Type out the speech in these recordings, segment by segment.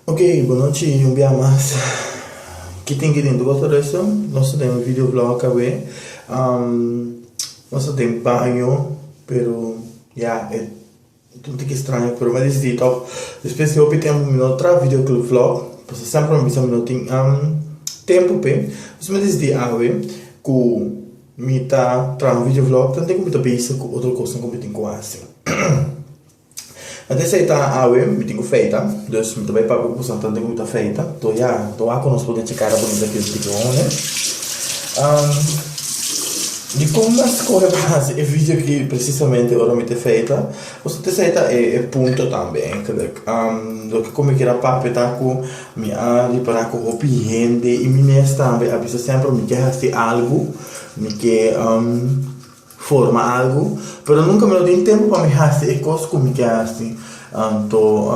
Ok, bonochi un bia mas. Ki tin ki den di Water Resto? Nos ta den un video blog awe. Nos ta den baño, pero ya e ta un tiki straño, pero mi a disidi tòg. Despues di hopi tempu mi no a traha video blog, pasobra semper mi a bisa mi no tin tempu p'e. Pues mi a disidi awe ku mi ta traha un video blog, tanto ku mi ta bisa ku otro kosnan ku mi tin ku hasi. Nan tin esei ta, Awe, mi tin ku feita. Dus mi ta bai papia ku kusnan ta tin ku mi ta feita. To ya, to wak ku nos por echa kara bonita ku es tiki homi. Dikon nan skohe pa hasi e video ki presisamente ora mi ta feita? Nos tin esei ta e punto tambe. Loke ku mi keda papia ta ku mi a ripara ku hopi hende i mi mes tambe a bisa semper mi ke hasi algu, mi ke. forma algu, pero nunka mi no tin tempu pa mi hasi e kos ku mi ke hasi. Anto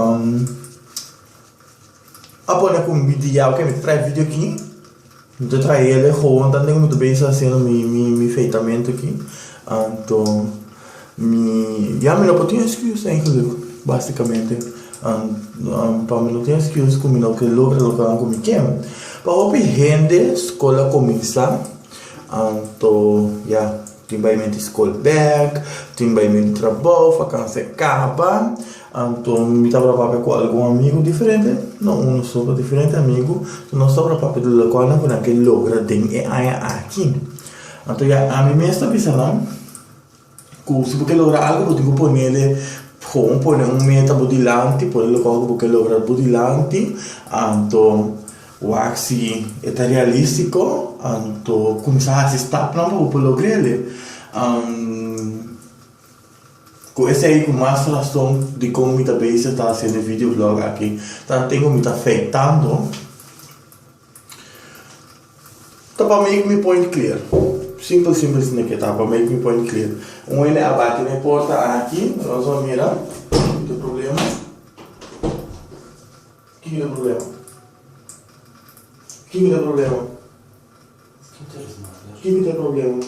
a pone ku mi di ya oke mi ta trae video aki, mi ta trae el e hohontan den ku mi ta bes hasiendo mi feitamentu aki, anto mi ya mi no por tin excuse den esun lugha basikamente pa mi no tin excuse ku mi no ke logra loke ahan ku mi ke. Pa hopi hende skol a kuminsá. Anto ya tin bai menti skol bek, tin bai menti trabou, fakansa e kaba. Anto mi tabata papia ku algun amigu diferente, no unu so, pero diferente amigu. Nos tabata papia di loke ku nan ke logra den e aña aki. Anto ya ami mes ta bisa nan. Cu si bo ke logra algu bo tin cu ponele gewoon pone un meta bo dilanti pone loke cu bo ke logra bo dilanti anto wak si e ta realistico anto cuminsa hasi stapnan pa bo por logrel cu esey cu mas rason dicon mi ta bezig ta haciendo e video blog aki ta hende cu mi ta feitando. Ta pa make mi point clear. Simpel simpel si no ke ta pa make mi point clear. Un hende a bati na e porta aki, nos a mira ke problema. Kin tin e problema? Kin tin e problema? Kin tin e problema?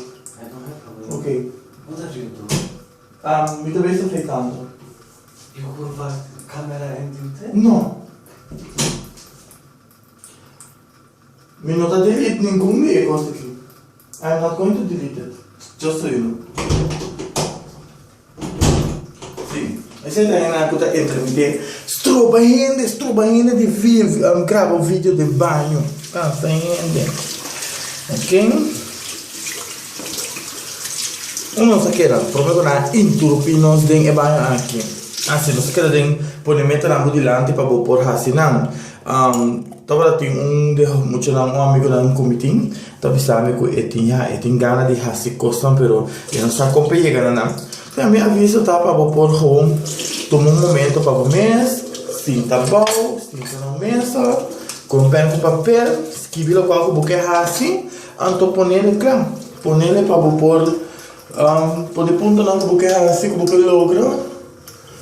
Ok. Mi ta bisa fe kantu. No. Mi no ta delete ningun di e cos aki. I am not going to delete it, just so you know. Si, esey ta hendenan cu ta entra mi ke stroba hende, stroba hende di graba video den baño. Cansa hende. Ok. Un nos a keda, prome cu nan a interrumpí nos den e baño aki. Asi nos a keda den pone metanan bo dilanti pa bo por haci nan. Tabata tin un di muchanan, un amigonan ku mi tin, ta bisa mi ku e tin e tin gana di hasi kosnan pero e no sa kon pa e yega na nan. P'esei mi aviso ta pa bo por gewoon tuma un momento pa bo mes, sinta abou, sinta na un mesa, kon pèn ku papel, skibi lokual ku bo ke hasi, anto ponele kla. Ponele pa bo por pone puntonan ku bo ke hasi, ku bo ke logra.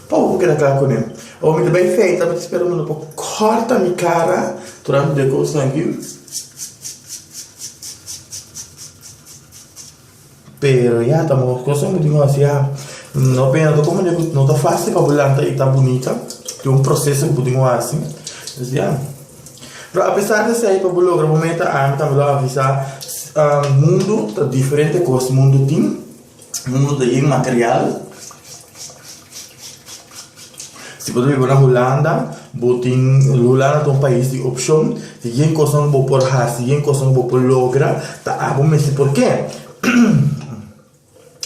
Pa ora ku keda kla kuné, awor mi ta bai feita, mi ta spera ku no por kòrta mi kara durante un dia kos nan yu. Pero ya ta mos kos nan bo tin ku hasi ya. No pensa ta komo dje no ta fásil pa bo lanta i ta bunita, tin un proseso ku bo tin ku hasi. Entonces ya. Pero apesar di esei pa bo logra bo meta, ami tambe lo avisa, mundu ta diferente ku hos mundu tin. Mundo ta yin material. Si bo ta biba na Hulanda, bo tin, Hulanda ta un pais di opcion. Si yen cosnan cu bo por haci, yen cosnan cu bo por logra, ta a bo mes di por ke.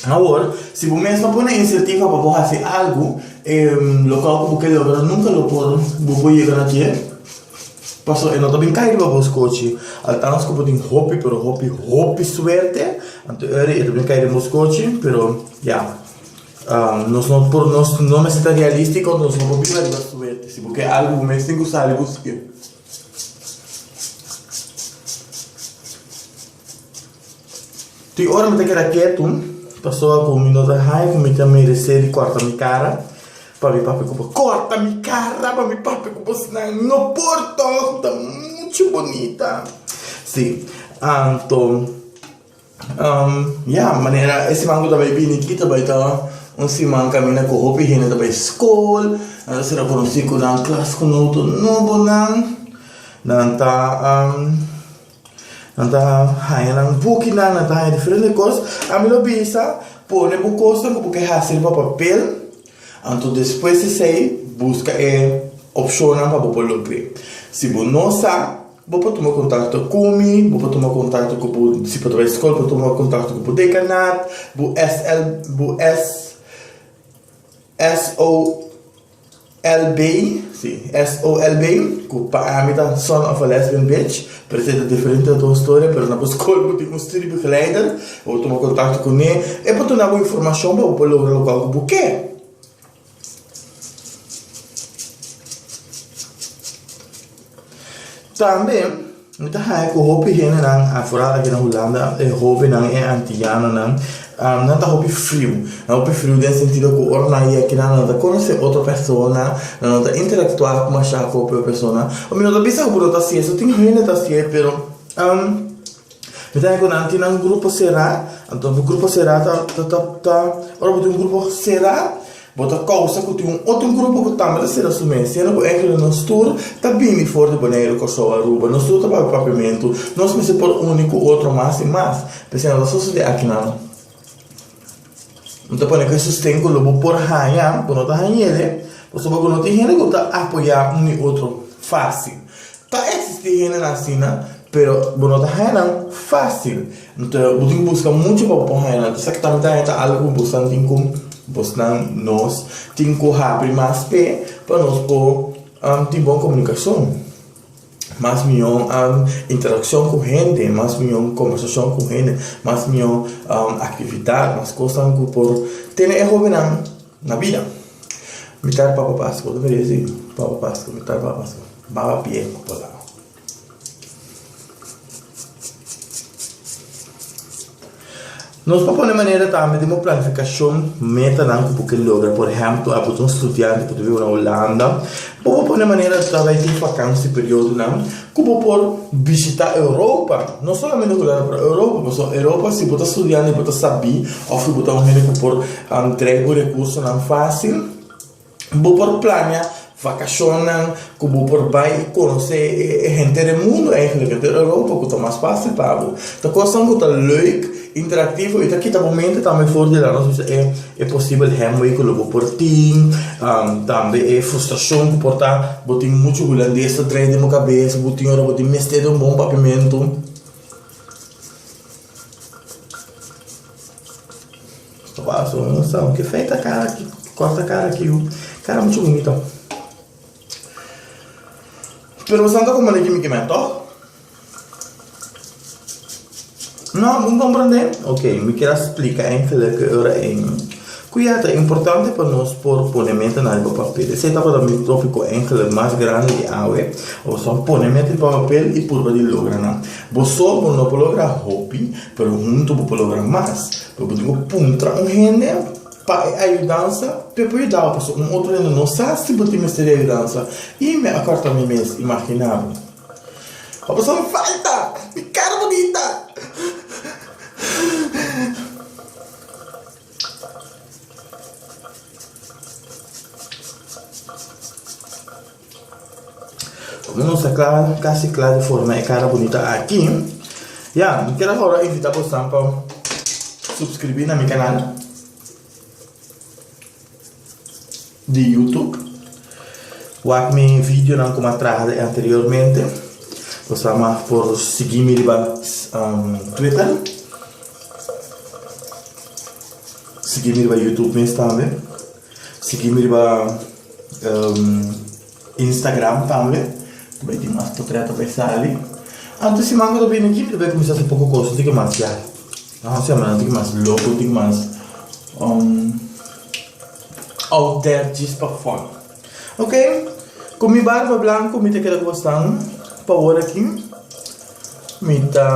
Awor, si bo mes no pone iniciativa pa bo haci algu, e local cu bo ke logra nunca lo por, bo por yega na dje. Paso e no ta bin kai riba bo skochi, altans ku bo tin hopi pero hopi hopi suerte, anto e ri e ta bin kai den bo skochi, pero ya nos no por nos no mester ta realistiko nos no por biba riba suerte, si bo ke algu bo mes tin ku sali busk'e. Tin ora mi ta keda ketu pasobra ku mi no ta haña ku mi ta meresé di kòrta mi kara pa mi papia ku bo. Kòrta mi kara pa mi papia ku bo sinan no por tòg, bo ta muchu bunita. Sí, anto ya manera e siman ku ta bai bini aki ta bai ta un siman kaminda ku hopi hende ta bai skol, nan ta ser konosí ku nan klas ku nan otro nobonan, nan ta. Nan ta haña nan bukinan, nan ta haña diferente kos. Ami lo bisa, pone bo kosnan ku bo ke hasi riba papel, anto despues di esei buska e opshonnan pa bo por lomp'é. Si bo no sa, bo por tuma kontakto ku mi, bo por tuma kontakto ku bo, si bo ta bai skol, bo tuma kontakto ku bo dekanat, bo SL, bo SO. Elbey, si, S-O Elbey, ku pa ami ta son of a lesbian bitch, parese e ta diferente na tur storia, pero na bo skol bo tin un studiebegeleider, bo por tuma kontakto kuné, e por duna bo informashon pa bo por logra lokual ku bo ke. Tambe mi ta haña ku hopi hendenan afuera aki na Hulanda, e hobennan, e antiyanonan, nan ta hopi friu. Nan hopi friu den e sentido ku ora nan yegi akinan nan no ta konosé otro persona, nan no ta interaktuá masha ku hopi otro persona. Mi no ta bisa ku bo no ta hasié eso, tin hende ta hasié, pero. Mi ta haña cu nan tin nan grupo cerá. Anto bo grupo cerá ta, ta, ora bo tin un grupo cerá, bo ta causa cu tin un otro grupo cu tambe ta cera su mes. Siendo cu engle nos tur ta bini for di Boneiru, Corsou, Aruba. Nos tur ta papia Papiamentu. Nos mester por uni cu otro mas y mas. P'esei no ta sosode aki nan. N ta pone kue sosten ku lo bo por haña ku no ta hañ'é, pasobra ku no tin hende ku ta apoyá un i otro fásil. Ta eksistí hendenan asina, pero bo no ta haña nan fásil. Nto bo tin ku buska muchu pa bo por haña nan. Esaki ta mester ta algu ku bosnan tin ku bosnan nos tin ku habri mas fe pa nos por tin bon komunikashon. mas mihó interakshon ku hende, mas mihó kombersashon ku hende, mas mihó aktividat, mas kosnan ku por tene e hobennan na bida. Mi ta papa Pasko, mi ta si papa Pasko, mi ta papa Pasko, baba a pie ku palaw. Nos por pone manera tambe den bo planificacion metanan cu bo ke logra. Por ehemplo, as bo ta un studiante cu ta biba na Hulanda, bo por pone manera tal bes den vakantie periodonan cu bo por bishita Europa. No solamente Hulanda, pero Europa, pasobra Europa si bo ta studiante y bo ta sabi of si bo ta un hende cu por trae bo recursonan facil, Bo por plania vakashonnan ku bo por bai i konosé e hente den mundu, eigenlijk hente den Europa, ku ta mas fásil pa bo. Ta kosnan ku ta lèuk, interaktivo i ta kita bo mente tambe for di lanos bisa e posibel hèmber ku lo bo por tin, tambe e frustrashon ku por ta. Bo tin muchu hulandes ta drai den bo kabes, bo tin ora bo tin mester di un bon papimentu. Stobas o no sa oke feita kara ki korta kara kiu kara muchu bunito pero boso no ta komprende kimi ki mehto no bon komprende oke mi kier a splika en feleke ora en ku ya ta importante pa nos por pone meta na riba papel esei tabata mi topiko engelek mas grandi di awe boso pone meta riba papel i purba di logra nan boso bo no por logra hopi. Pero huntu bo por logra mas. Pero bo tin ku puntra un hende pa e ayudansa pa e por yuda bo pasobra un otro hende no sa si bo tin mester e ayudansa. Y mi a kòrta mi mes imaginando. Bo a bisa, Mi falta! Mi kara bunita! Como nos a clara casi clara di forma e cara bonita aki Ya, mi quier awor a invita bosan pa subscribi na mi canal di YouTube Wak mi videonan como a traha den anteriormente Bosan mas por sigui mi riba Twitter Sigui mi riba YouTube mes tambe Sigui mi riba Instagram tambe, ta bay tin mas potreto bay sali. Anto di siman cu ta bini aki mi ta bay cuminsa hasi poco cosnan, tin cu masia, ta un semana tin cu mas loco, tin cu mas out there djis pa fun. Ok, cu mi barba blanco mi ta keda cu bastan pa ora aki, mi ta.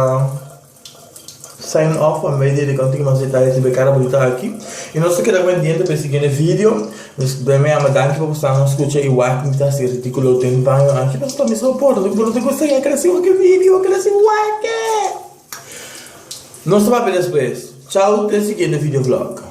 Sign off pa medio di kontingu mas detaye riba e kara bo ta aki i nos ta keda pendiente pa e siguiente video mi mi ama danki pa bo sa nos skucha i wak mi ta hasi ridikulo den baño aki nos ta mester por bo bo no ta gusta yeka na si hopi video ke na si wake nos ta papia despues chao te siguiente video vlog.